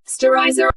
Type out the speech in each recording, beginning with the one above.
Sterilizer.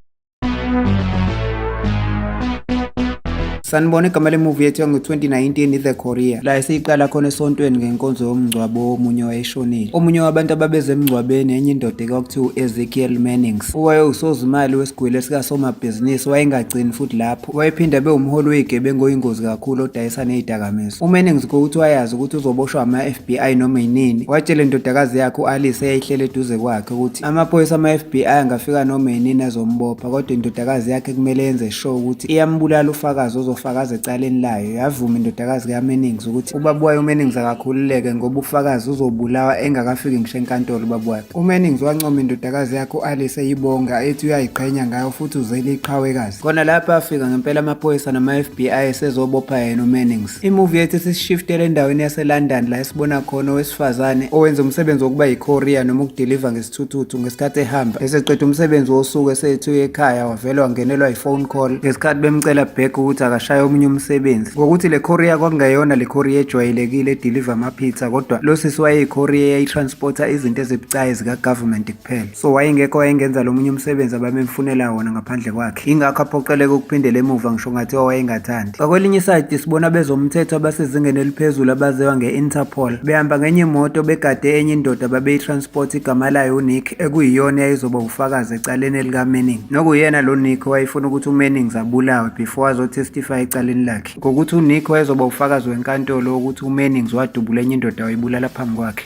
Sanibona igama lemuvi yethu yango-2019 i-The Korea la esiyiqala khona esontweni ngenkonzo yomngcwabo womunye wayeshonile omunye wabantu ababeze emngcwabeni enye indoda ekwakuthiwa u-ezekiel mannings owayewusozimali wesigwili esikasomabhizinisi wayengagcini futhi lapho Wayephinde abe umholi weyigebengu oyingozi kakhulu odayisa nezidakamizwa. Uma eningizigo ukuthi wayazi ukuthi uzoboshwa ama-FBI noma yinini, watshela indodakazi yakhe u-Alice eyayihleli eduze kwakhe ukuthi amaphoyisa ama-FBI angafika noma yinini azombopha kodwa indodakazi yakhe kumele yenze sure ukuthi iyambulala ufakazi ozofakaza ecaleni layo. Yavuma indodakazi kaMennings ukuthi ubaba wayo uMennings akakhululeke ngoba ufakazi uzobulawa engakafiki ngisho enkantolo ubaba wayo. UMannings wancoma indodakazi yakhe u-Alice eyibonga ethi uyayiqhenya ngayo futhi uzele iqhawekazi. Khona lapho afika ngempela amaphoyisa nama-FBI esezobopha yena uMannings. Imuvi yethu sisishiftele endaweni yaseLondon la esibona khona owesifazane owenza umsebenzi wokuba yicourier noma ukudiliva ngesithuthuthu ngesikhathi ehamba. Eseqeda umsebenzi wosuku esethi uye ekhaya wavele wangenelwa yi-phone call ngesikhathi bemcela back ukuthi akashaye omunye umsebenzi. Ngokuthi le courier kwakungeyona le courier ejwayelekile ediliva Peter kodwa lo sisi wayeyicourier yayitransporta izinto ezibucayi zikagovernment kuphela so wayengekho wayengenza lo munye umsebenzi ababemfunela wona ngaphandle kwakhe ingakho aphoqeleke ukuphindela emuva ngisho ngathi owayengathandi ngakwelinye isayidi sibona bezomthetho abasezingeni eliphezulu abaziwa nge-interpol behamba ngenye imoto begade enye indoda babeyitransporta igama layo unick ekuyiyona yayizoba ufakazi ecaleni elikamanning nokuyena lo nick wayefuna ukuthi umanning zabulawe before azotestify ecaleni lakhe ngokuthi uNick wayezoba ufakazi wenkantolo wokuthi uMannings wadubula enye indoda wayibulala phambi kwakhe.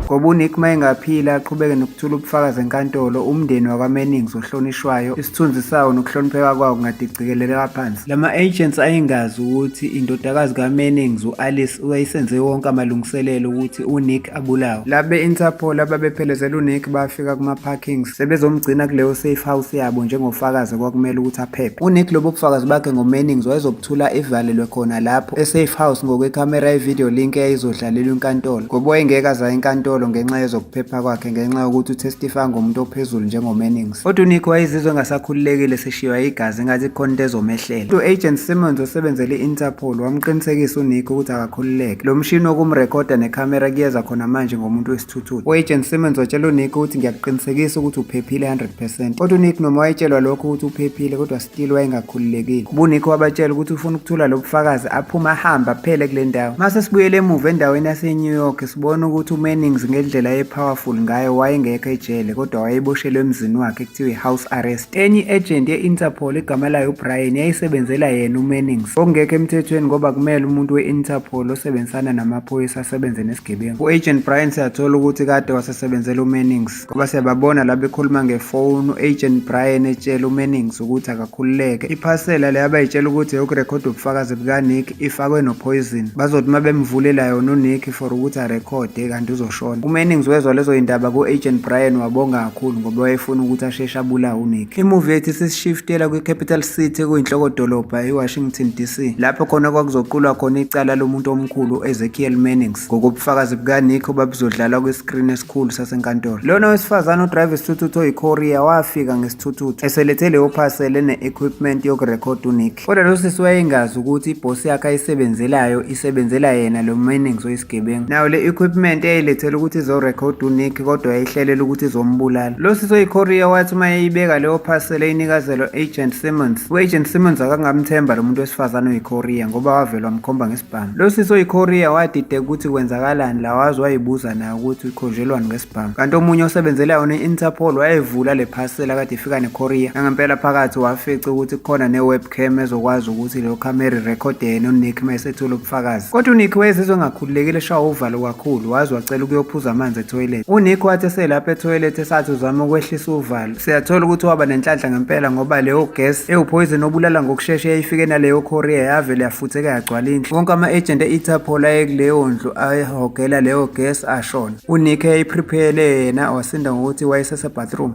Ngoba uNick uma engaphila aqhubeke nokuthula ubufakazi enkantolo, umndeni wakwaMannings ohlonishwayo, isithunzi sawo nokuhlonipheka kwawo kungadicikeleleka phansi. La ma-agents ayingazi ukuthi indodakazi kaMannings, u-Alice, wayesenze wonke amalungiselelo ukuthi uNick abulawe. Laba be-Interpol ababephelezela uNick bafika kuma-parkings sebezomgcina kuleyo safe house yabo njengofakazi okwakumele ukuthi aphephe. UNick lobo bufakazi bakhe ngoMannings wayezobuthula evalelwe khona lapho e-safe house ngokwekhamera ye-video link eyayizodlalelwa inkantolo ngoba wayengeke aza enkantolo ngenxa yezokuphepha kwakhe ngenxa yokuthi utestifaya ngomuntu ophezulu njengoMannings. Kodwa uNick wayezizwe engasakhululekile sishiywa igazi ngathi khona into ezomehlela. U-Agent Simmons osebenzele i-Interpol wamqinisekisa uNick ukuthi akakhululeke. Lo mshini wokumrekhoda nekhamera kuyeza khona manje ngomuntu wesithuthuthi. U-Agent Simmons watshela uNick ukuthi ngiyakuqinisekisa ukuthi uphephile 100%. Kodwa uNick noma wayetshelwa lokho ukuthi uphephile kodwa Still wayengakhululekile. Ubunikho wabatshela ukuthi ufuna ukuthola lobufakazi aphume ahambe aphele kule ndawo. Mase sibuyele emuva endaweni yaseNew York sibona ukuthi uMannings ngendlela epowerful ngayo wayengekho ejele kodwa wayeboshelwe emzini wakhe kuthiwa i-house arrest. Enye i-agent ye-Interpol igama layo uBrian yayisebenzela yena uMannings. Okungekho emthethweni ngoba kumele umuntu we-Interpol osebenzisana namaphoyisa asebenze nesigebengu. U-agent Brian siyathola ukuthi kade wasesebenzela uMannings. ngoba siyababona la bekhuluma ngefoni u-agent brian etshela umennings ukuthi akakhululeke iphasela le abayitshela ukuthi yokurekhoda ubufakazi bukanick ifakwe nophoyizini bazothi uma bemvulela yona unick for ukuthi arekhode kanti uzoshona umennings wezwa lezo yindaba ku-agent brian wabonga kakhulu ngoba wayefuna ukuthi asheshe abulawe unick imuvi yethu isishiftela kwi-capital city kuyinhlokodolobha iwashington d c lapho khona kwakuzoqulwa khona icala lomuntu omkhulu u-ezekiel mannings ngokobufakazi bukanick obabuzodlalwa kwiskrini khulu sasenkantolo. Lona wesifazane odrive isithuthuthu oyiKorea wafika ngesithuthuthu eselethe leyo parcel ene-equipment yokurekhoda uNick. Kodwa lo sisi wayengazi ukuthi ibhosi yakhe ayisebenzelayo isebenzela yena lo Mannings oyisigebengu. Nayo le equipment yayilethela ukuthi izorekhoda uNick kodwa yayihlelela ukuthi izombulala. Lo sisi oyiKorea wathi uma yayibeka leyo parcel eyinikazelwa agent Simmons, u-agent Simmons akangamthemba lo muntu wesifazane oyiKorea ngoba wavele wamkhomba ngesibhamu. Bam. Lo sisi oyiKorea wadideka ukuthi kwenzakalani la waze wayibuza naye ukuthi ukhonjelwani ngesibhamu. Kanti omunye osebenzela yona i-Interpol wayevula le parcel akade ifika neKorea. Nangempela phakathi wafica ukuthi kukhona ne-webcam ezokwazi ukuthi leyo camera record yena uNick uma esethula ubufakazi. Kodwa uNick wayezizwe engakhululekile eshawa uvalo kakhulu waze wacela ukuyophuza amanzi etoilet. UNick wathi eselapha etoilet esathi uzama ukwehlisa uvalo Siyathola ukuthi waba nenhlanhla ngempela ngoba leyo gas ewuphoyizeni obulala ngokushesha eyayifike naleyo Korea yavele yafutheka yagcwala indlu. Wonke ama-agent e-Interpol ayekuleyo ndlu ayehogela leyo gas ashona. UNick eyayiprepare yena wasinda ngokuthi wayesesebathroom.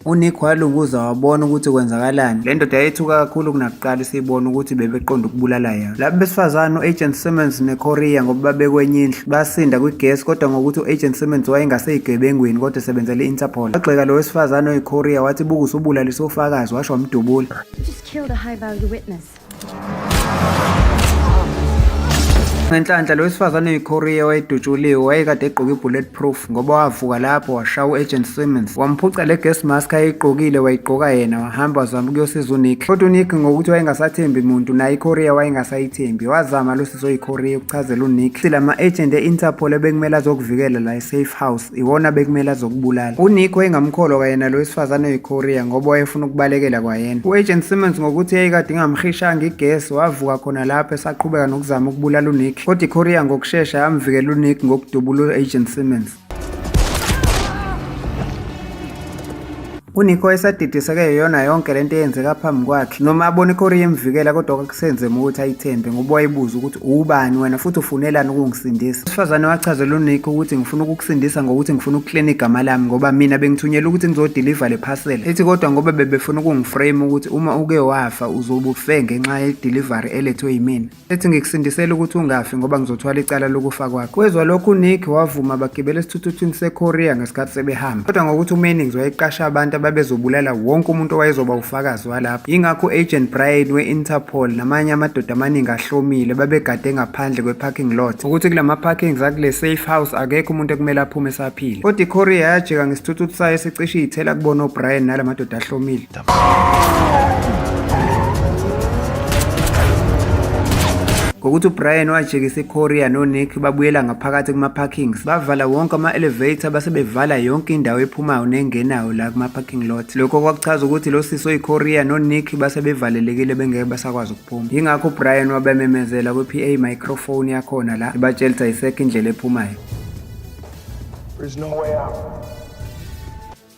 UNick walunguza wabona ukuthi kwenzakalani. Le ndoda yayithuka kakhulu kunakuqala isibona ukuthi bebeqonda ukubulala yona. Laba besifazane u-Agent Simmons neCoria ngoba babekwenye indlu basinda kwigesi kodwa ngokuthi u-Agent Simmons wayengaseyigebengwini kodwa esebenzela i-Interpol. Wagxeka lo wesifazane oyiCoria wathi buka usubulalise ufakazi washo wamdubula. Ngenhlanhla lo wesifazane oyiKorea wayedutshuliwe wayekade egqoke i-bulletproof ngoba wavuka lapho washaya u-agent Simmons wamphuca le gas mask ayeyigqokile wayigqoka yena wahamba wazama ukuyosiza unick kodwa unick ngokuthi wayengasathembi muntu naye ikorea wayengasa-ithembi wazama lo sisi oyiKorea ukuchazela unick ukuthi la ma-agent e-interpol ebekumele azokuvikela la e-safe house iwona bekumele azokubulala unikho engamkholwa kwayena lo wesifazane oyiKorea ngoba wayefuna ukubalekela kwayena u-agent simmons ngokuthi yayikade ingamhishanga igesi wavuka khona lapho esaqhubeka nokuzama ukubulala unick kodwa ikorea ngokushesha yamvikela unick ngokudubula u-agent simmons Kunikho esadidiseke yiyona yonke lento eyenzeka phambi kwakhe noma abona ikhori yemvikela kodwa kwakusenzema ukuthi ayithembe ngoba wayebuza ukuthi uwubani wena futhi ufunelani ukungisindisa usifazane wachazela unikho ukuthi ngifuna ukukusindisa ngokuthi ngifuna ukuklina igama lami ngoba mina bengithunyelwa ukuthi ngizodiliva le phasela ethi kodwa ngoba bebefuna ukungiframe ukuthi uma uke wafa uzobufe ngenxa yedelivery elethwe yimina ethi ngikusindisela ukuthi ungafi ngoba ngizothwala icala lokufa kwakho kwezwa lokhu uNick wavuma bagibela esithuthuthini seKorea ngesikhathi sebehamba kodwa ngokuthi uMennings wayeqasha abantu ababezobulala wonke umuntu owayezoba ufakazi walapho yingakho u-agent Brian we-Interpol namanye amadoda amaningi ahlomile babegade ngaphandle kwe-parking lot ukuthi kula ma-parkings akule safe house akekho umuntu ekumele aphume esaphile kodwa ikorea yajika ngesithuthuthi sayo esicishe iyithela kubona ubrian nala madoda ahlomile ngokuthi uBrian wajikisa iKorea noNick babuyela ngaphakathi kuma-parkings bavala wonke ama-elevator base bevala yonke indawo ephumayo nengenayo la kuma-parking lot lokho kwakuchaza ukuthi lo sisi oyiKorea noNick base bevalelekile bengeke basakwazi ukuphuma yingakho uBrian wabememezela kwi-PA microphone yakhona la ebatshela ukuthi ayisekho indlela ephumayo There's no way out.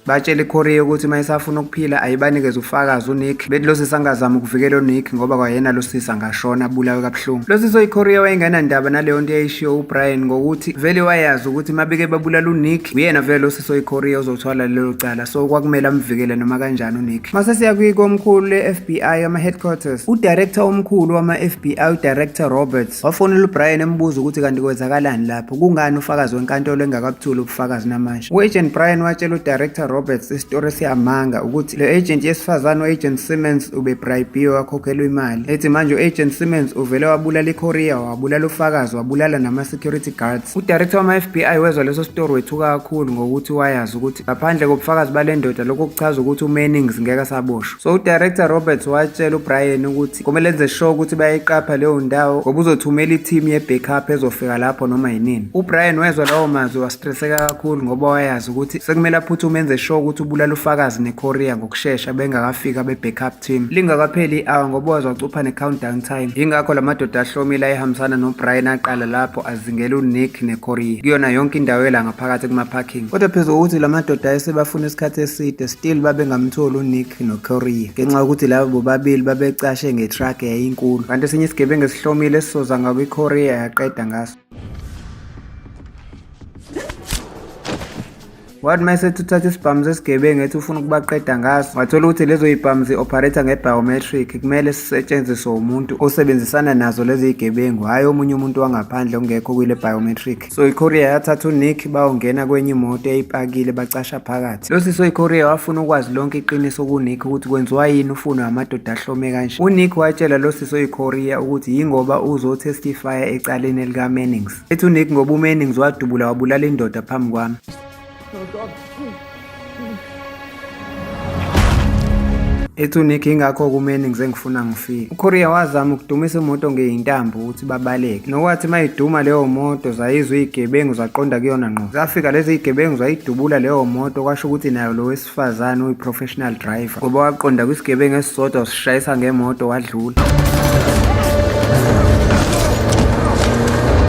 Batshele iKorea ukuthi uma isafuna ukuphila ayibanikeze ufakazi uNick. Bethi lo sisi angazama ukuvikela uNick ngoba kwayena lo sisi angashona abulawe kabuhlungu. Lo sisi oyiKorea wayengenandaba naleyo nto eyayishiwo uBrian ngokuthi vele wayazi ukuthi uma beke babulala uNick uyena vele lo sisi oyiKorea ozothwala lelo cala so kwakumele amvikele noma kanjani uNick. Mase siya kwikomkhulu le-FBI ama-headquarters udirector omkhulu wama-FBI udirector Roberts Wafonela uBrian embuza ukuthi kanti kwenzakalani lapho, kungani ufakazi wenkantolo engakabuthuli ubufakazi namanje. U-Agent Brian watshela uDirector Roberts isitori siyamanga ukuthi le agent yesifazane u-Agent Simmons ubebribiwe wakhokhelwa imali. Ethi manje u-Agent Simmons uvele wabulala iCourier, wabulala ufakazi, wabulala nama-security guards. UDirector wama-FBI wezwa leso sitori wethuka kakhulu ngokuthi wayazi ukuthi ngaphandle kobufakazi bale ndoda lokho kuchaza ukuthi uMannings ngeke asaboshwa. So uDirector Roberts watshela uBrian ukuthi Kumele enze sure ukuthi bayayiqapha leyo ndawo ngoba uzothumela i-team ye-backup ezofika lapho noma yinini. UBrian wezwa lawo mazwi wastreseka kakhulu ngoba wayazi ukuthi sekumele aphuthume enze sure ukuthi ubulala ufakazi neKorea ngokushesha bengakafiki abe-backup team. Lingakapheli i-hour ngoba waze wacupha ne-countdown time. Yingakho la madoda ahlomile ayehambisana noBrian aqala lapho azingela uNick neKorea kuyona yonke indawo ela ngaphakathi kuma-parking. Kodwa phezu kokuthi la madoda ayesebafuna isikhathi eside still babengamtholi uNick. noCorie ngenxa yokuthi laba bobabili babecashe ngetruck eyayinkulu kanti esinye isigebengu esihlomile esisoza ngakwiCorie yaqeda ngaso wathi uma esethatha isibhamu sesigebengu ethi ufuna ukubaqeda ngaso wathola ukuthi lezo yibhamu zi-operator nge-biometric kumele sisetshenziswe umuntu osebenzisana nazo lezi zigebengu hhayi omunye umuntu wangaphandle ongekho kwile biometric So iKorea yathatha uNick bawongena kwenye imoto eyipakile bacasha phakathi. Lo sisi oyiKorea wafuna ukwazi lonke iqiniso kuNick ukuthi kwenziwa yini ufuno amadoda ahlome kanje. UNick watshela lo sisi oyiKorea ukuthi yingoba uzotestifya ecaleni likaMannings. Ethi uNick ngoba uMannings wadubula wabulala indoda phambi kwami. ethi uNick ingakho kumeni ngize ngifuna ngifike uKorea wazama ukudumisa imoto ngeyintambo ukuthi babaleke nokwathi mayiduma leyo moto zayizwa izigebengu zaqonda kuyona ngqo zafika lezi zigebengu zayidubula leyo moto kwasho ukuthi nayo lo wesifazane oyi-professional driver ngoba waqonda kwisigebengu esisodwa usishayisa ngemoto wadlula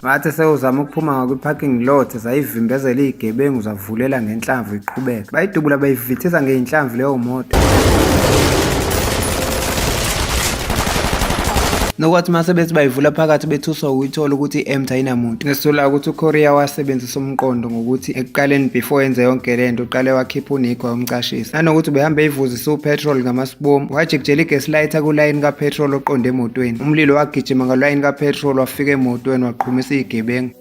ngathi sewuzama ukuphuma ngakwi-parking lot zayivimbezela iyigebengu zavulela ngenhlamvu iqhubeka bayidubula bayivithisa ngeyinhlamvu leyo moto nokwathi uma sebethi bayivula phakathi bethuswa ukuyithola ukuthi i-emt ayinamuntu ngesola ukuthi ukorea wasebenzisa umqondo ngokuthi ekuqaleni before enze yonke le nto uqale wakhipha unikho wayomcashisa nanokuthi ubehambe eyivuzisa upetrol ngamasibomu wajikijela igaslighta kulayini kapetrol oqonde emotweni umlilo wagijima ngalayini kapetrol wafika emotweni waqhumisa iyigebengu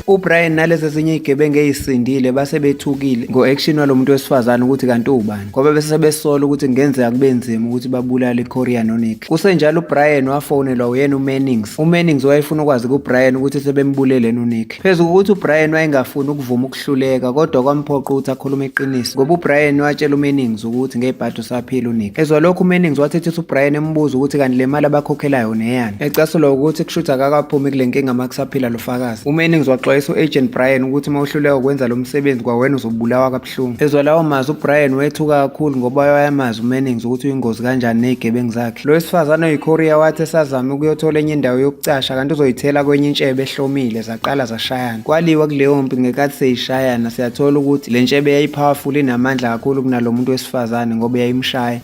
ubrian nalezi ezinye iyigebengu eyisindile base bethukile ngo-action walo muntu wesifazane ukuthi kanti uwubani ngoba bese besola ukuthi kungenzeka kube nzima ukuthi babulale iCoria noNick. Kusenjalo uBrian wafonelwa uyena uMannings. UMannings wayefuna ukwazi kuBrian ukuthi sebembulele noNick. Phezu kokuthi uBrian wayengafuni ukuvuma ukuhluleka kodwa kwamphoqa ukuthi akhulume iqiniso. Ngoba uBrian watshela uMannings ukuthi ngebhadi usaphila uNick. Ezwa lokho uMannings wathethisa uBrian embuza ukuthi kanti le mali abakhokhelayo neyani. Ecasulwa ukuthi kushuthi akakaphumi kule nkinga uma kusaphila lo fakazi. UMannings waxwayisa u-Agent Brian ukuthi uma uhluleka ukwenza lo msebenzi kwawena uzobulawa kabuhlungu. Hlungu. Ezwa lawo mazwi uBrian wethuka kakhulu ngoba wayamazi uMennings ukuthi uyingozi kanjani nezigebengu zakhe. Lo wesifazane oyiKorea wathi esazama ukuyothola enye indawo yokucasha kanti uzoyithela kwenye intshebe ehlomile zaqala zashayana. Kwaliwa kuleyo mpi ngekathi seyishayana siyathola ukuthi le ntshebe yayipowerful inamandla kakhulu kunalo muntu wesifazane ngoba yayimshaya.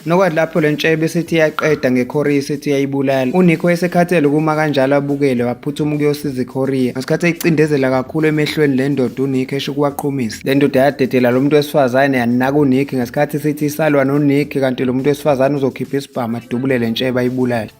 Nokwathi lapho le ntshebe esithi iyaqeda ngeKorea esithi iyayibulala, uNick wayesekhathele ukuma kanjalo abukele waphuthuma ukuyosiza iKorea. Ngesikhathi eyicindezela kakhulu emehlweni le ndoda uNick esho ukuwaqhumisa. Le ndoda yadedela lo muntu wesifazane yanaka uNick ngesikhathi sithi isalwa noNick kanti lo muntu wesifazane uzokhipha isibhamu adubule le ntshebe ayibulale.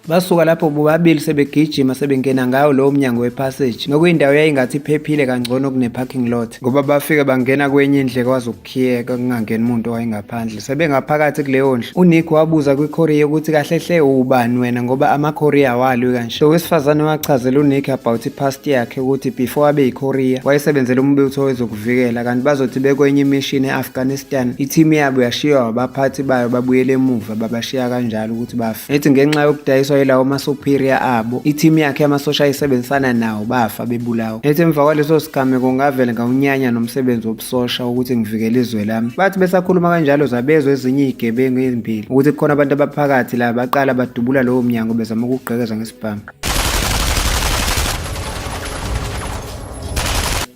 Basuka lapho bobabili sebegijima sebengena ngawo lowo mnyango wepassage nokuyindawo yayingathi iphephile kangcono kune-parking lot ngoba bafike bangena kwenye indle kwazi ukukhiyeka kungangeni umuntu owayengaphandle sebengaphakathi kuleyo ndlu unick wabuza kwikhoriya ukuthi kahle hle ubani wena ngoba amakhoriya awalwi kanje owesifazane wachazela unick about ipast yakhe ukuthi before abe yikhoriya wayesebenzela umbutho wezoku ukuvikela kanti bazothi bekwenye imishini e-afghanistan ithimu yabo yashiywa abaphathi bayo babuyele emuva babashiya kanjalo ukuthi bafe ethi ngenxa yokudayiswa yilawo masuperior abo ithimu yakhe yamasosha ayisebenzisana nawo bafa bebulawa ethi emva kwaleso sigameko ngavele ngawunyanya nomsebenzi wobusosha ukuthi ngivikele izwe lami bathi besakhuluma kanjalo zabezwa ezinye izigebengu ezimbili ukuthi kukhona abantu abaphakathi la baqala badubula lowo mnyango bezama ukugqekeza ngesibhamu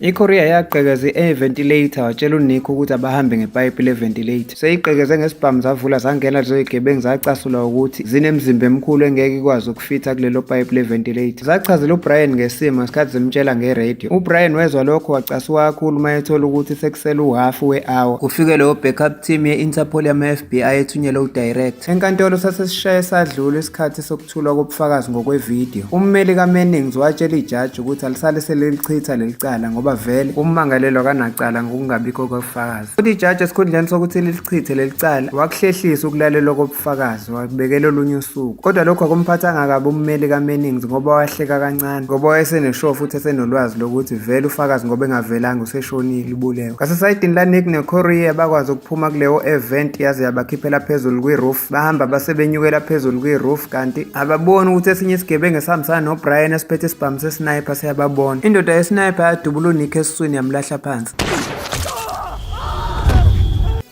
I-Korea yaqekeza i-air ventilator watshela uNick ukuthi abahambe ngepayipi le-ventilator. Seyiqekeze ngesibhamu zavula zangena lezo zigebengu zacasula ukuthi zinemizimba emikhulu engeke ikwazi ukufitha kulelo payipi le-ventilator. Zachazela uBrian ngesimo ngesikhathi zimtshela nge-radio. UBrian wezwa lokho wacasuka kakhulu uma ethola ukuthi sekusele uhhafu we-hour. Kufike leyo backup team ye-Interpol yama-FBI ethunyelwe udirect. Enkantolo sasesishaye sadlula isikhathi soku Thulwa kobufakazi ngokwevidiyo. Ummeli kaMannings watshela ijaji ukuthi alisale selilichitha leli cala ngoba vele ummangalelwa kanacala ngokungabikho kobufakazi. Futhi ijaji esikhundleni sokuthi lilichithe leli cala wakuhlehlisa ukulalelwa kobufakazi wakubekela olunye usuku. Kodwa lokhu akumphathanga kabi ummeli kaMannings ngoba wahleka kancane ngoba wayeseneshow futhi esenolwazi lokuthi vele ufakazi ngoba engavelanga useshonile ubulewe. Ngasesayidini laNick neCourier bakwazi ukuphuma kuleyo event yaze yabakhiphela phezulu kwi-roof. bahamba base benyukela phezulu kwi-roof kanti ababoni ukuthi esinye isigebengu esihambisana nobrian esiphethe isibhamu sesniper siyababona indoda yesniper yadubula unikho esiswini yamlahla phansi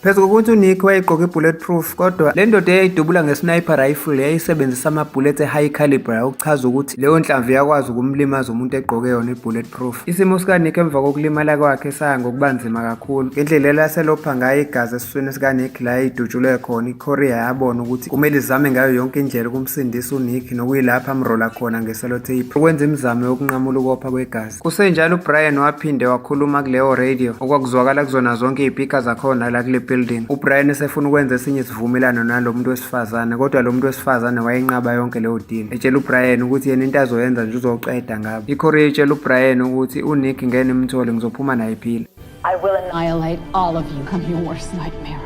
phezu kokuthi uNick wayegqoke i-bullet proof kodwa le ndoda eyayidubula nge-sniper rifle yayisebenzisa ama-bullet e-high caliber okuchaza ukuthi leyo nhlamvu yakwazi ukumlimaza umuntu egqoke yona i-bullet Proof. Isimo sikaNick emva kokulimala kwakhe saya ngokuba nzima kakhulu. Ngendlela elaselopha ngayo igazi esiswini sikaNick la idutshulwe khona, iKorea yabona ukuthi kumele izame ngayo yonke indlela ukumsindisa uNick nokuyilapha amrola khona ngeselotape ukwenza imizamo yokunqamula ukopha kwegazi. Kusenjalo uBrian waphinde wakhuluma kuleyo radio okwakuzwakala kuzona zonke izipika zakhona la kule building. UBrian esefuna ukwenza esinye isivumelwano nalo muntu wesifazane kodwa lo muntu wesifazane wayenqaba yonke leyo deal. Etshela uBrian ukuthi yena into azoyenza nje uzoqeda ngabo. ICorea itshela uBrian ukuthi uNick ngeke nimthole ngizophuma naye phila. I will annihilate all of you. I'm your worst nightmare.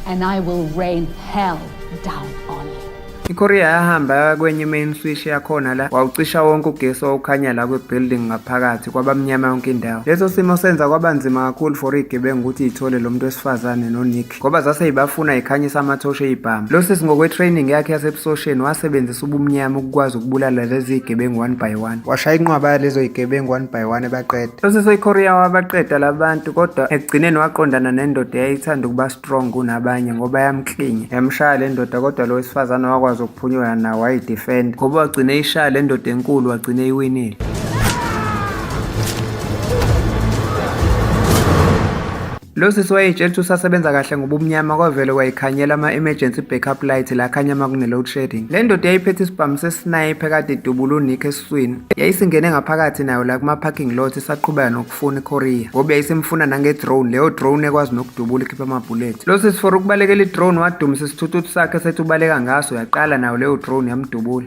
And I will rain hell down on you. IKorea yahamba kwenye i-main switch yakhona la wawucisha wonke ugesi owukhanya la kwi-building ngaphakathi kwabamnyama yonke indawo. Leso simo senza kwaba nzima kakhulu for iy'gebengu ukuthi iy'thole lo muntu wesifazane noNick. ngoba zase ibafuna ikhanyisa amathoshe eyibhamu lo sisi ngokwe-training yakhe yasebusosheni wasebenzisa ubumnyama ukukwazi ukubulala lezi yigebengu one by one washaya inqwaba yalezo yigebengu one by one ebaqeda lo sisi oyikorea wabaqeda labantu kodwa ekugcineni waqondana nendoda eyayithanda ukuba strong kunabanye ngoba yamklinya yamshaya le ndoda kodwa lo wesifazane wakwazi ukuphunyula nawo wayidefenda ngoba wagcina eyishaya le ndoda enkulu wagcina eyiwinile Lo sisi wayeyitshela ukuthi usasebenza kahle ngoba umnyama kwavele wayikhanyela ama-emergency backup light la khanya uma kune-load shedding. Le ndoda yayiphethe isibhamu sesinayipe kade idubula uNick esiswini. Yayisingene ngaphakathi nayo la kuma-parking lot isaqhubeka nokufuna iKorea ngoba yayisimfuna nange-drone leyo drone ekwazi nokudubula ikhipha amabhulethi. Lo sisi for ukubalekela i-drone wadumisa isithuthuthi sakhe sethi ubaleka ngaso yaqala nayo leyo drone yamdubula.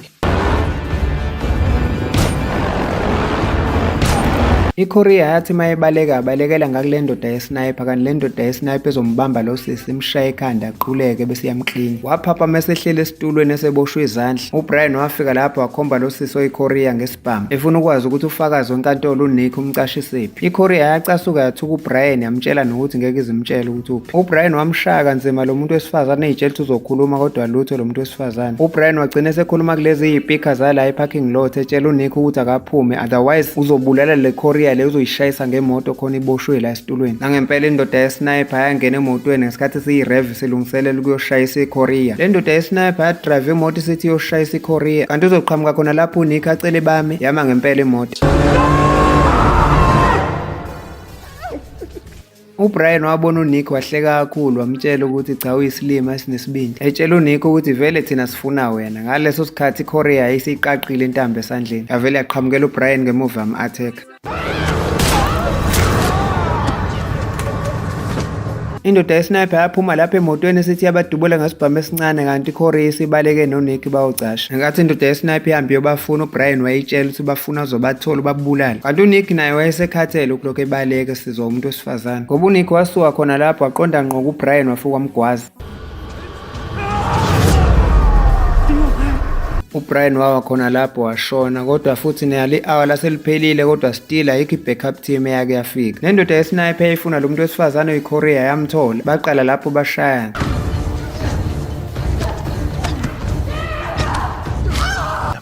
IKorea yathi uma ebaleka abalekela ngakule ndoda yesniper kanti le ndoda yesniper ezombamba lo sisi imshaye ekhanda aquleke bese iyamklinga waphapha uma esehleli esitulweni eseboshwe izandla ubrian wafika lapho wakhomba lo sisi oyikorea ngesibhamu efuna ukwazi ukuthi ufakazi wenkantolo unick umcashisephi ikorea yacasuka yathuka ubrian yamtshela nokuthi ngeke izimtshele ukuthi uphi ubrian wamshaya kanzima lo muntu wesifazane eyitshela ukuthi uzokhuluma kodwa lutho lo muntu besifazane ubrian wagcina esekhuluma kulezi yipika zala eparking lot etshela unikho ukuthi akaphume otherwise uzobulala le korea le uzoyishayisa ngemoto khona iboshwe la esitulweni nangempela indoda yesniper yangena emotweni ngesikhathi siyirev silungiselela ukuyoshayisa ikorea le ndoda yesniper yadrive imoto isithi iyoshayisa ikorea kanti uzoqhamuka khona lapho unikho acele bami yama ngempela imoto UBrian wabona uNick wahleka kakhulu wamtshela ukuthi cha uyisilima esinesibindi. Etshela uNick ukuthi vele thina sifuna wena. Ngaleso sikhathi iKorea yayiseyiqaqile intambo esandleni. Yavele yaqhamukela uBrian ngemuva yam-attack. Indoda yesniper yaphuma lapha emotweni esithi yabadubula ngesibhamu esincane kanti iCorey isibaleke noNick bawucasha. Ngenkathi indoda yesniper ihambe yobafuna uBrian wayitshela ukuthi bafuna uzobathola ubabulala. Kanti uNick naye wayesekhathele ukulokhu ebaleka nsizwa umuntu wesifazane ngoba uNick wasuka khona lapho waqonda ngqo kuBrian wafuka wamgwaza uBrian wawa khona lapho washona kodwa futhi neyali hour laseliphelile kodwa still ayikho ibackup team eyake yafika nendoda yesniper yayifuna lo muntu wesifazane oyiKorea yamthola baqala lapho bashayana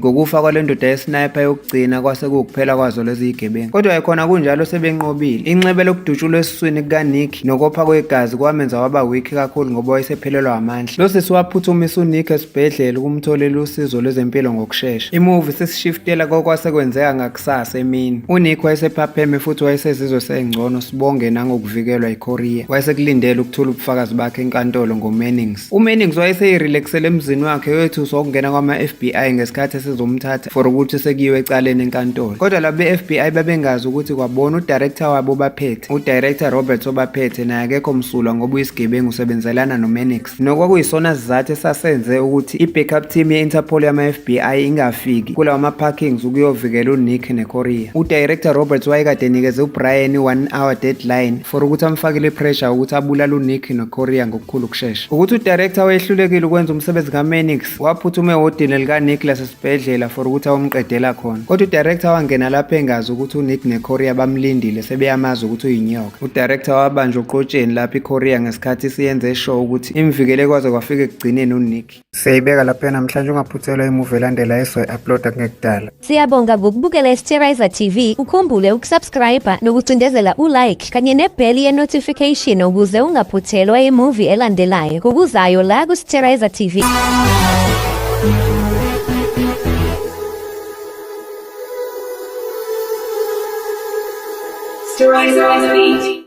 Ngokufa kwale ndoda yesniper yokugcina kwase kuwukuphela kwazo lezi zigebengu. Kodwa ekhona kunjalo sebenqobile. Inxeba lokudutshulwa esiswini kukaNick nokopha kwegazi kwamenza waba weak kakhulu ngoba wayesephelelwa amandla. Lo sisi waphuthumisa uNick esibhedlela ukumtholela usizo lwezempilo ngokushesha. Imuvi sisishiftela kokwase kwenzeka ngakusasa emini. UNick wayesephapheme futhi wayesezizwe sengcono sibonge nangokuvikelwa iKorea. Wayesekulindele ukuthula ubufakazi bakhe enkantolo ngoMennings. UMennings wayeseyirelaxele emzini wakhe wethuswa ukungena kwama-FBI ngesikhathi esizomthatha for ukuthi sekuyiwe ecaleni enkantolo. Kodwa laba be-FBI babengazi ukuthi kwabona udirector wabo obaphethe, udirector Roberts obaphethe naye akekho msulwa ngoba uyisigebengu usebenzelana noMennings. Nokwakuyisona sizathu esasenze ukuthi i-backup team ye-Interpol yama-FBI ingafiki kulawa ma-parkings ukuyovikela uNick neKorea. Udirector Roberts wayekade enikeze uBrian i-one hour deadline for ukuthi amfakile i-pressure ukuthi abulale uNick neKorea ngoku khulu kushesha ukuthi udirector wayehlulekile ukwenza umsebenzi kaMenix waphuthume ehhotini likaNicholas esibhedlela for ukuthi awumqedela khona kodwa udirector wangena lapho engazi ukuthi uNick neKorea bamlindile sebeyamazi ukuthi uyinyoka udirector wabanjwa uqotsheni lapho iKorea ngesikhathi siyenze show ukuthi imvikele kwaze kwafika ekugcineni uNick Siyayibeka lapha namhlanje ungaphuthelwa imuvi elandela esoyi-uploada kungekudala. Siyabonga ngokubukela iSterizer TV. Ukhumbule ukusubscribe nokucindezela ulike kanye nebheli ye-notification ukuze ungaphuthelwa imuvi elandelayo ngokuzayo la kuSterizer TV. Sterizer TV.